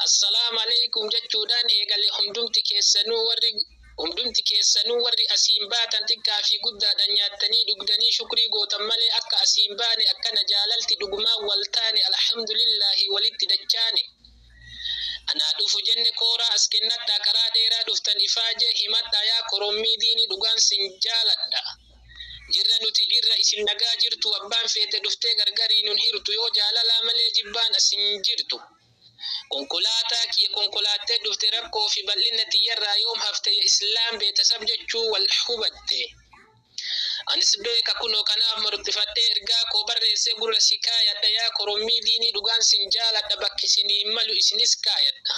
Assalaamu aleykum jechuudhaan eegale hundumti keessanuu warri hundumti keessanuu warri asiin baatan xiqqaa fi guddaadhaan nyaattanii dhugdanii shukrii gootan malee akka asiin baane akkana jaalalti dhugumaan wal taane alhamdulillaahi walitti dachaane anaa dhufu jenne kooraa as kennadhaa karaa dheeraa dhuftan ifaajee himadhaa yaa korommii diinii dhugaan sin jaaladha Jirra nuti jirra isin nagaa jirtu abbaan feete dhuftee gargarii nun hirtu yoo jaalalaa malee jibbaan as hin jirtu konkolaataa kiyya konkolaattee dhufte rakkoo fi bal'inna tiyyarraa yoom hafte ya islaam beetasab jechuu wal hubatte anis beeka kunoo kanaaf marxifadhee ergaa koo barreessee gurra si kaayadha yaa korommii diinii dhugaan sin jaaladha bakki isinii malu isinis kaayadha.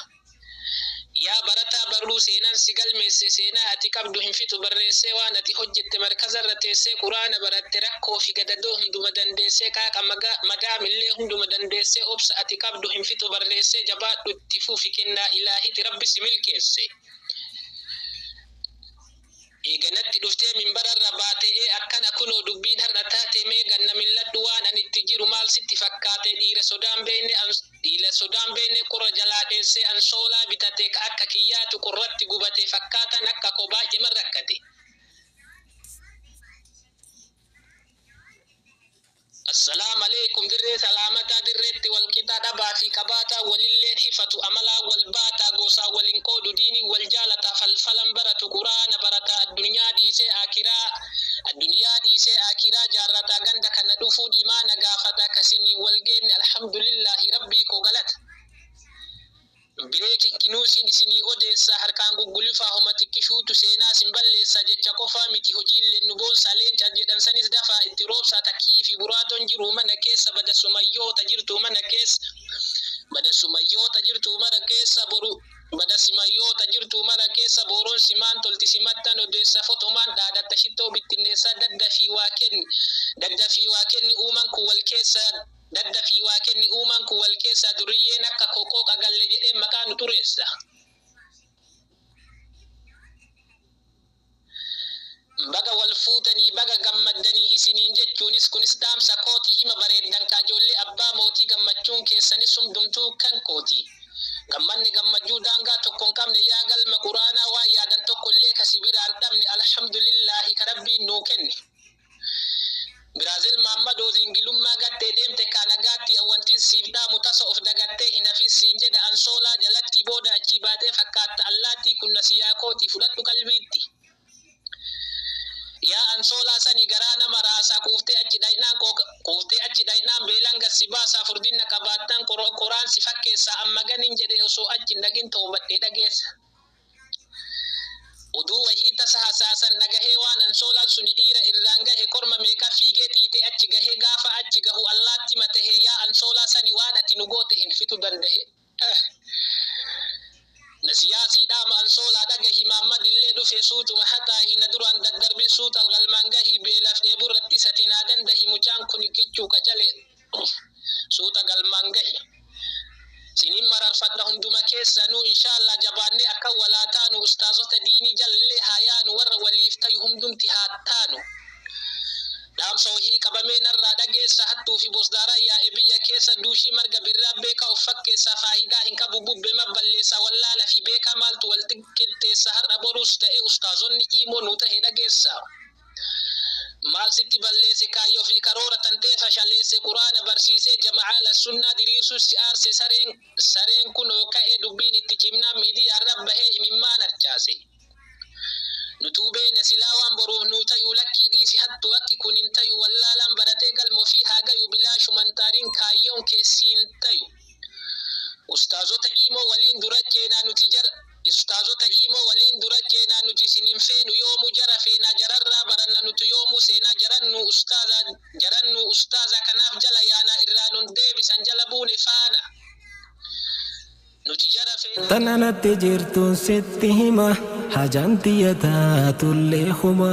Yaa barataa barruu seenaan si galmeesse seenaa ati qabdu hin fixu barreessee waan ati hojjette markazarra teessee quraana baratte rakkoo fi gadadoo hunduma dandeessee qaaqa madaam illee hunduma dandeessee obsa ati qabdu hin fixu barreessee jabaadhu itti fufi kennaa ilaahiti rabbi si milkeesse. Eega natti dhuftee minbararra baate'ee akkana kunoo dubbiin har'a taate mee ganna milladhu waan ani itti jiru maal sitti fakkaate dhiira sodaan beeyne an dhiila sodaan beeyne qurra jalaa dheessee ansoolaa bitate ka akka kiyyaatu qurratti gubate fakkaataan akka koo baay'eman rakkate. Assalamaleykum dirree salaamataa dirreetti wal qixaa dhabaa fi qabaataa walilleen hifatu amalaan wal baataa goosaan wal hin qoodu diiniin wal jaalataa falfalan baratu quraana barataa addunyaa dhiisee aakiraa addunyaa dhiisee aakiraa jaarrataa ganda kana dhufuun imaana gaafataa ka siniin wal geenne alhamdulillaahi rabbii koo galata Breaking newsn isinii odeessaa harkaan guggulifaa homa xiqqishuutu seenaa sin balleessaa jecha qofaa miti hojiilleen nu boonsaa leenca jedhan sanis dafaa itti roobsaa ta kii fi buraaton jiruu mana keessa bada sumayyoo ta jirtuu mana keessa bada sumayyoo ta jirtuu mana keessa boru bada simayyoo ta jirtuu mana keessa booron simaan tolti simattan odeessa foxomaan dhaadatta shittoo bittinneessaa daddafii waa kenni daddafii waa kenni uuman kun wal keessa Dadda fi Waaqenni uumaan kun wal keessaa duriyyeen akka koo qooqa galle jedhee maqaa nu xureessa. Baga wal fuutanii baga gammaddanii isiniin jechuunis kunis dhaamsa kooti hima bareeddan kaa ijoollee abbaa mootii gammachuun keessanis hundumtuu kan kooti. Gammanni gammachuu daangaa tokko hin qabne yaa galma quraanaa waan yaadan tokko illee ka si biraa hin dhabne alhamdulillaahi ka rabbiin nuu kenne. Biraazil Maammadoo zingilummaa gattee deemte kaa nagaatti an wantin siif dhaamu tasa of dagattee hin hafin siin jedha ansoolaa jalattii booda achii baatee fakkaatta allaattii kunna siyaa kootii fudhadhu qalbiitti yaa ansoolaa sani garaa nama raasaa quuftee achi dhaynaan qooqa quuftee achi dhaynaan beelaan gad si baasaa furdinna qabaattaan qoro qoraan si fakkeessaa amma ganin jedhee osoo achi hin dhaqin toobadhee dhageessa. Oduu wahii tasa hasaasan dhagahee waan ansoolaan suni dhiira irraan gahe korma meeqa fiigee xiixee achi gahee gaafa achi gahu allaatti matahee yaa ansoolaa sani waan ati nu goote hin fixu dandahe eh Nasiyaa sii dhaama ansoolaa dhagahi maammadillee dhufe suutuma hataahi na duraan daddarbin suutal galmaan gahi beelaf dheeburratti sati naa dandahi mucaan kuni kichuu qacalee suuta galmaan gahi sinin mararfadha hunduma keessanuu inshaallaa jabaannee akka walaa taanu ustaazota diinii jallee haa yaanu warra waliif tayu hundumti haa taanu dhaamsa wahii qabamee narraa dhageessa hattuu fi bosdaaraa yaa'e biyya keessa duushii marga birraa beekaa of fakkeessaa faayidaa hin qabu bubbe mabballeessaa wallaala fi beekaa maaltu wal qixxeessa har'a boruus ta'e ustaazonni iimoo nu tahe dhageessa. Maal sitti balleesse kaayyoo fi karoora tantee fashaleesse quraana barsiisee jama'a ahlassunnaa diriirsuus si aarse sareen sareen kunoo ka'e dubbiin itti cimnaan miidiyaarra bahee imimmaan harcaase nutuu beeyna silaa waan boruuf nuu tayuu lakkii dhiisi hattuu akki kun hin tayuu wallaalaan baratee galma ofii haa gayuu bilaashuman taariin kaayyoon kee siin tayu Ustaazota imo waliin dura ceena nuti jara Ustaazota imo waliin dura ceena nuti isin hin feenu yoomu jara feena jararraa baranna nutu yoomu seena jaran nu ustaaza jaran nu ustaaza kanaaf jala yaana irraa nun deebisan jala buune faana nuti jara feena Tan anatti jirtun sitti hima Hajaan tiyya taatullee huma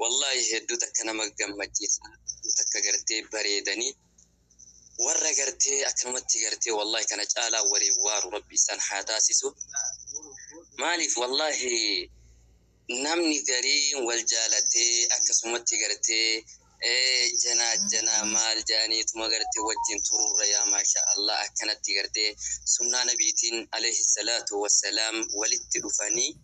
Wallahi hedduu takka nama gammachiisa hedduu takka gartee bareedanii warra gartee akkanumatti gartee wallahi kana caalaa waliin waaru rabbi isaan haa taasisu maaliif wallahi namni gariin wal jaalatee akkasumatti gartee Ee jana jana maal jaanii tuma garte wajjin tururra yaa maashaa Allah akkanatti garte sunnaa nabiitiin aleyhi salaatu wassalaam walitti dhufanii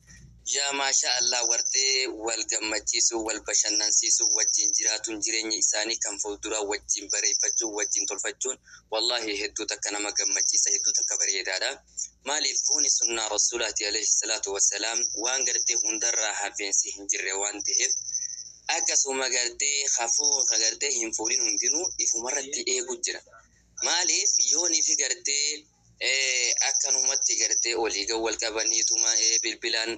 yaa maashaa Allah warte wal gammachiisuu wal bashannansiisuu wajjin jiraatuun jireenya isaanii kan fulduraa wajjin bareeffachuun wajjin tolfachuun wallaahi hedduu takka nama gammachiisa hedduu takka bareedaadha. Maaliif buuni sunnaa Rasuulaati Aleeyhi salaatu wa salaam waan gartee hundarraa hafeensi hin jirre waan taheef akkasuma gartee ka fuudhu ka gartee hin fuudhin hundinuu ifumarratti eegu jira. Maaliif yoonifi gartee akkanumatti gartee olii gad wal qabaniituma bilbilaan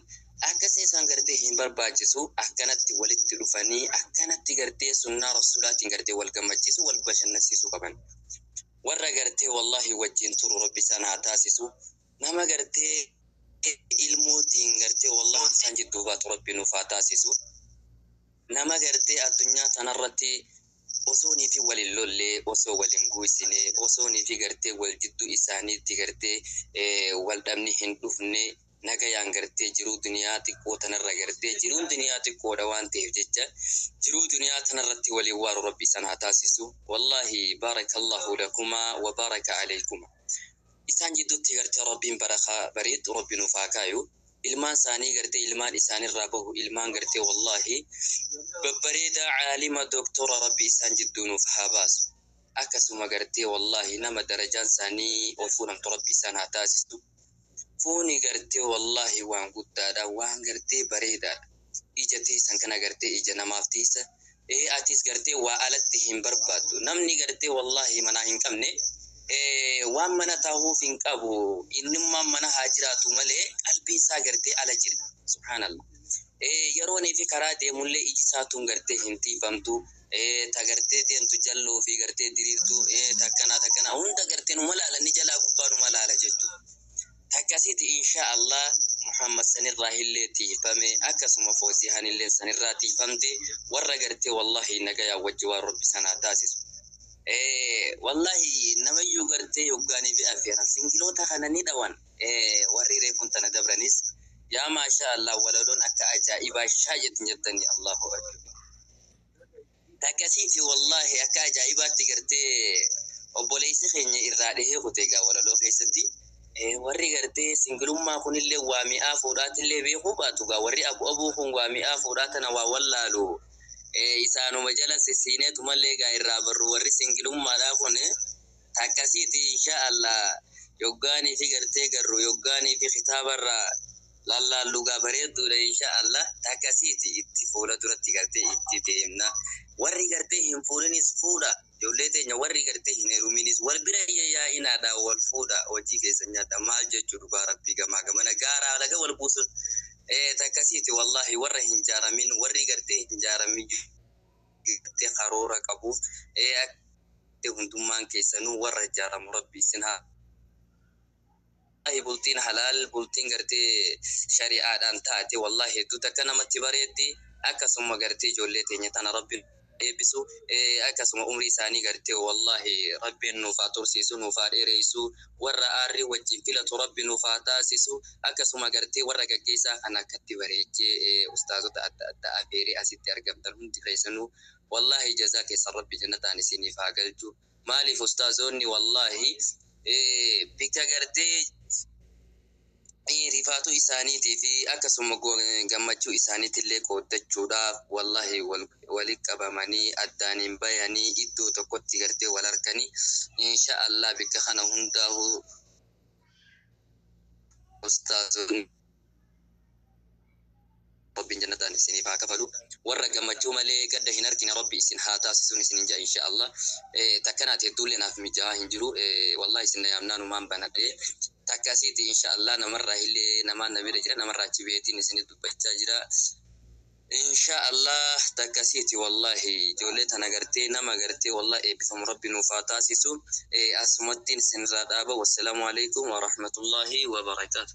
akkasii isaan gartee hin barbaachisu akkanatti walitti dhufanii akkanatti gartee sunnaa Rasuulaatiin gartee wal gammachiisu wal bashannansiisuu qaban. warra gartee wallahi wajjin turu rabbi isaan haa taasisu nama gartee ilmootiin gartee wallahi isaan jidduu baatu rabbi nuuf haa taasisu nama gartee addunyaa tanarratti osoo niifi waliin lollee osoo waliin guusine osoo niifi gartee wal jidduu isaaniitti gartee wal dhabni hin dhufne nagayaan gartee jiruu duniyaa xiqqoo tanarra gartee jiruun duniyaa xiqqoodha waan ta'eef jecha jiruu duniyaa tanarratti waliin waaru rabbi isan haa taasisu wallahi baarakallahu lakuma wa baaraka aleykuma isaan jiddutti gartee rabbiin barakaa bareeddu rabbi nuuf haa kaayu ilmaan isaanii gartee ilmaan isaanirraa bahu ilmaan gartee wallahi babbareedaa caalima doktora rabbi isaan jidduu nuuf haa baasu akkasuma gartee wallahi nama darajaan isaanii ol fuudhamtu rabbi isaan haa taasisu Fooni gartee wallahi waan guddaadha waan gartee bareedaadha ija teessan kana gartee ija namaaf teessa ee atiis gartee waa alatti hin barbaaddu namni gartee wallahi manaa hin qabne ee waan mana taahuuf hin qabu innummaan mana haa jiraatu malee qalbiin isaa gartee ala jira subhaanallah ee yeroonii fi karaa deemullee iji isaa tun gartee hin tiifamtu ee ta gartee deemtu jalloo fi gartee diriirtuu ee takkanaa takkanaa hunda gartee numa laala ni jalaa gubbaa numa laala jettu takkasiti insha allah muhammad sanirraa hillee tiifame akkasuma foosiihan illee sanirraa tiifamte warra gartee wallahi nagayaa wajji waan rabbi sanaa taasisu ee wallahi namayyuu gartee yoggaanii fi affeeran singiloota kana ni dhawan ee warri reefun tana dabranis yaa maashaa allah walaloon akka ajaa'ibaa shaa jettin jettanii allahu akbar Akkasiiti wallaahi akka ajaa'ibaatti gartee obboleessi keenya irraa dhihee kute egaa walaloo keessatti. Eh, Warri gartee singilummaa kunillee waa mi'aa fuudhaatillee beekuu baatu egaa warri abu abuu kun waa mi'aa fuudhaa tana waa wallaalu. Eh, Isaanuma jala sissiineetumallee egaa irraa barru warri singilummaadhaa kun takkasiiti inshaa Allah yoggaanii fi gartee garru yoggaanii fi kitaabarraa Lallaan dhugaa bareedduudha inshaa Allah takka siiti itti fuula duratti gartee itti deemna warri gartee hin fuudhinis fuudha ijoollee teenya warri gartee hin heruminis wal bira yayyaa'inaadha wal fuudha hojii keessan nyaadha maal jechuu dhugaa rabbii gamaa gamana gaara alaga wal buusun ee takka siiti wallahi warra hin jaaramin warri gartee hin jaaramin gartee karoora qabuuf ee hundummaan keessanuu warra jaaramu rabbii isin haa Wallaahi bultiin halaal bultiin gartee shari'aadhaan taate wallaahi hedduu takka namatti bareeddi akkasuma gartee ijoollee teenya tana rabbi eebbisu akkasuma umrii isaanii gartee wallaahi rabbiin nuuf haa tursiisu nuuf haa dheereessu warra aarrii wajjin filatu rabbi nuuf haa taasisu akkasuma gartee warra gaggeessaa kana akkatti bareechee ustaazota adda addaa afeeree asitti argamtan hundi keessanuu wallaahi jazaa keessan rabbi jannataan isiniif haa galchu Maalif ustaazoonni wallahi bika gartee rifaatuu isaaniitii fi akkasuma gammachuu isaaniitillee qooddachuudhaaf wallahi wali qabamanii addaan hin bayanii iddoo tokkotti gartee wal arkanii insha allah bikka kana hundaahuu ustaazoonni Rabbiin jannataan isiniif haa kafalu warra gammachuu malee gadda hin arkine rabbi isin haa taasisuun isinin ja'a insha Allah takka naati hedduullee naaf mija'aa hin jiru wallahi isin na yaamnaan umaan banadhe takka asiiti insha Allah namarraa illee namaan na bira jira namarraa achi baheetiin isinit dubbachaa jira insha Allah takka asiiti wallahi ijoollee tana gartee nama gartee wallahi eebbifamu rabbi nuuf haa taasisu asumattiin isinirraa dhaaba wassalaamu alaikum wa rahmatullahi wa barakaatu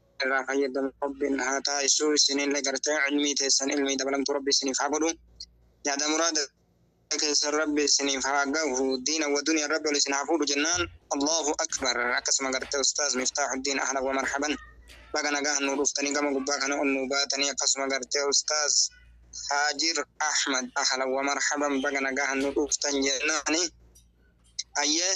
irraa fayyadama rabbin haa taasisu isinille gartee ilmii teessan ilmii dabalamtu rabbi isiniif haa godhu yaada muraada keessan rabbi isiniif haa gahu diina wa duniya rabbi ol isin haa fuudhu jennaan allahu akbar akkasuma gartee ustaaz miftaaxuddiin ahlan wa marhaban baga nagahan nuu dhuftanii gama gubbaa kana ol nuu baatanii akkasuma gartee ustaaz haajir ahmad ahlan wa marhaban baga nagahan nuu dhuftan jennaani ayyee